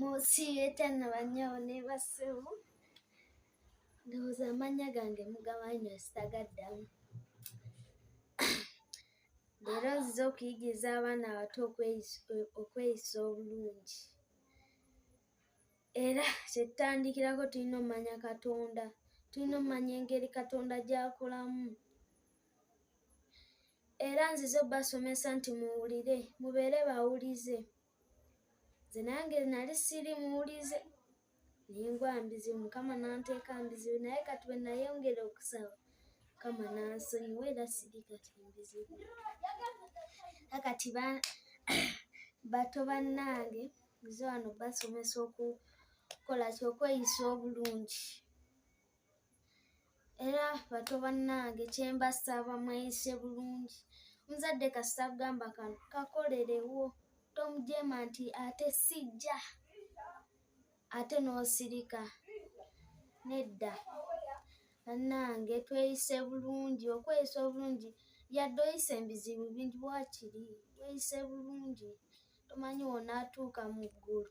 musiibeta na banyawo ne bassebo ndowooza amannya gange mugamanyi ositagaddamu leero nzize okuyigiriza abaana abato okweyisa obulungi era kyetutandikirako tulina omumanya katonda tulina omumanya engeri katonda gyakolamu era nzize obasomesa nti muwulire mubeere bawulize nze nange nali siri muwulize nengwa mbizibu mukama nanteeka mbizibu naye kati bwe nayongera okusaba mukama nansonyiwa era siri kati mbizibu akati bato bannange nze wano basomesa okukola kyokweyisa obulungi era bato bannange kyembasaba mweyise bulungi omuzadde kasita kugamba kano kakolerewo tomujeema nti ate sijja ate n'osirika nedda bannange tweyise bulungi okweyisa obulungi yadde oyise ebizibu bingi wakiri weyise bulungi tomanyi wonaatuuka mu ggulu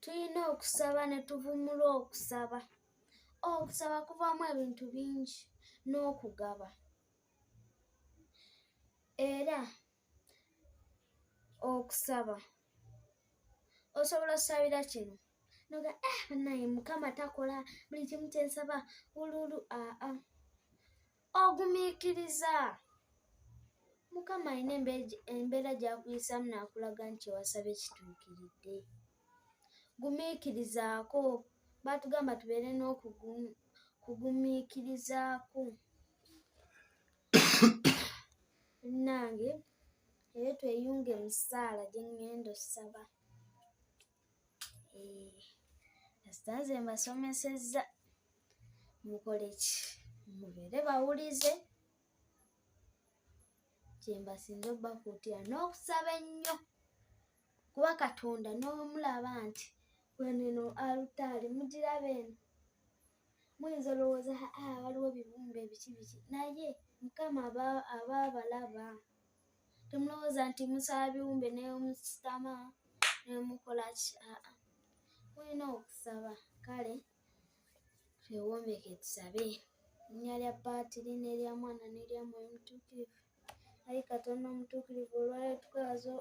Tulina okusaba ne tuvumula okusaba. Okusaba kuvaamu ebintu bingi n'okugaba. Era okusaba osobola okusabira kino noga eh banaye mukama takola buli kimu kyensaba wululu aa ah, ah. ogumiikiriza mukama alina embeera gy'akuyisaamu n'akulaga nti ewasaba ekituukiridde gumiikirizaako baatugamba tubeere n'okugumiikirizaako nange era tweyunge mu ssaala gye ŋŋenda ossaba kasita nze mbasomesezza mukole ki mubeere bawulize kyembasinze obakuutira n'okusaba ennyo kuba katonda n'omulaba nti weneno alutaali mugiraba eno muyinza olowooza haa waliwo bibumba ebiki biki naye mukama aba abalaba temulowooza nti musaba biwumbe nemusitama nemukola ki aa mulina okusaba kale twewombeke tusabe linya lya paatiri nerya mwana nerya mwoyo mutuukirivu ayi katonda omutuukirivu olwaleero tukwaza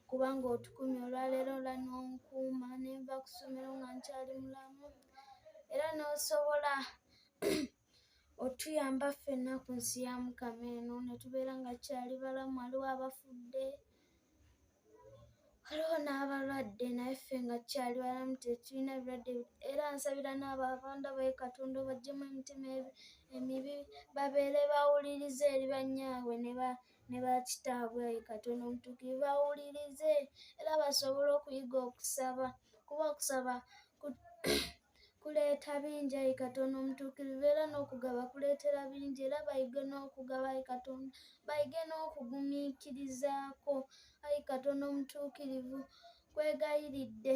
kubanga otukumye olwaleero ola nonkuuma nenva kusomero nga nkyali mulamu era nosobola otuyamba ffenna ku nsi ya mukama eno ne tubeera nga kyali balamu waliwo abafudde waliwo n'abalwadde naye ffe nga kyali balamu tetulina ebirwadde era nsabira n'abo abanda baye katonda obajjemu emitima emibi babeere bawulirize eri bannyaabwe ne bakitaabwe ayi katonda omutuukiri bawulirize era basobole okuyiga okusaba kuba okusaba kuleeta bingi ayi katonda omutuukirivu era n'okugaba kuleetera bingi era bayige n'okugaba ayi katonda bayige n'okugumiikirizaako ayi katonda omutuukirivu kwegayiridde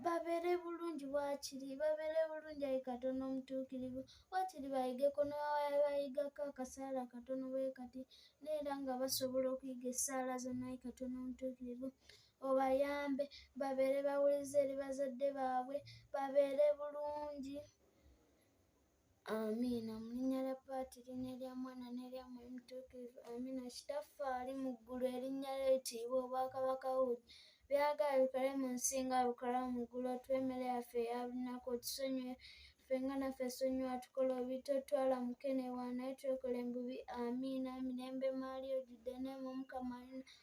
babeere bulungi waakiri babeere bulungi ayi katonda omutuukirivu waakiri bayigeko newabayigako akasaala katono bwe kati neera nga basobola okuyiga essaala zonna ayi katonda omutuukirivu obayambe babeere bawulize eri bazadde baabwe babeere bulungi amiina mu linnya lya paatiri n'erya mwana n'erya mwoyo mutuukirivu amiina kitaffe ali mu ggulu erinnya lye litiibwa obwakabaka bwe byagala bikole mu nsi nga bikola mu ggulu otuwa emmere yaffe eya lunaku otusonyiwe ffe nga naffe sonyiwa tukola obitotwala mukenewa naye twekola embubi amiina mirembe maali ojjudde neema omukama alina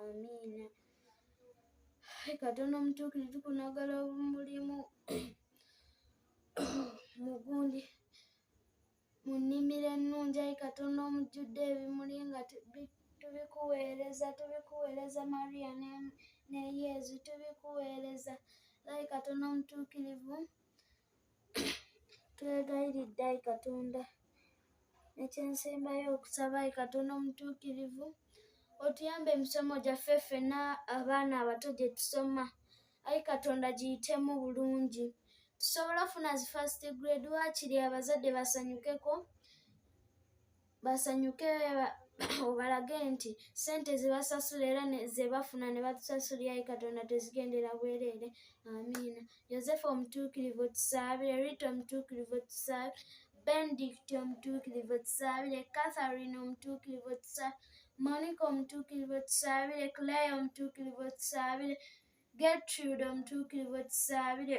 amiina katonda omutuukirivu kunagala omulimu mugundi mu nnimiro ennungi ayi katonda omujjudde ebimuli nga tubikuweereza tubikuweereza mariya ne yezu tubikuweereza ayi katonda omutuukirivu Twegayiridde ayi Katonda, ekyensembayo okusaba ayi Katonda omutuukirivu otuyambe emisomo gyaffe ffena abaana abato gye tusoma ayi Katonda giyitemu bulungi tusobole ofuna zi first grade waakiri abazadde basanyukeko. basanyuke obalage nti sente zebasasula era zebafuna ne batusasula yayi katonda tezigendera bwereere amiina yosefu omutuukirivu otusaabire rita omutuukirivu otusaabire benedict omutuukirivu otusaabire catherine omutuukirivu otusaabire monica omutuukirivu otusaabire clay omutuukirivu otusaabire getrude omutuukirivu otusaabire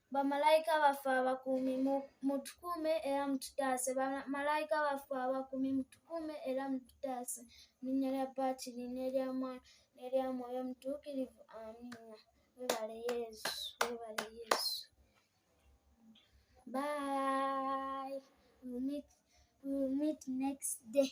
Bamalayika baffe abakuumi mutukuume era mututaase. Bamalayika baffe abakuumi mutukuume era mututaase. Mu linnya lya Patiri n'erya Mwana n'erya Mwoyo Mutuukirivu. Amiina. Webale Yesu, webale Yesu. Bye. We'll meet, we'll meet next day.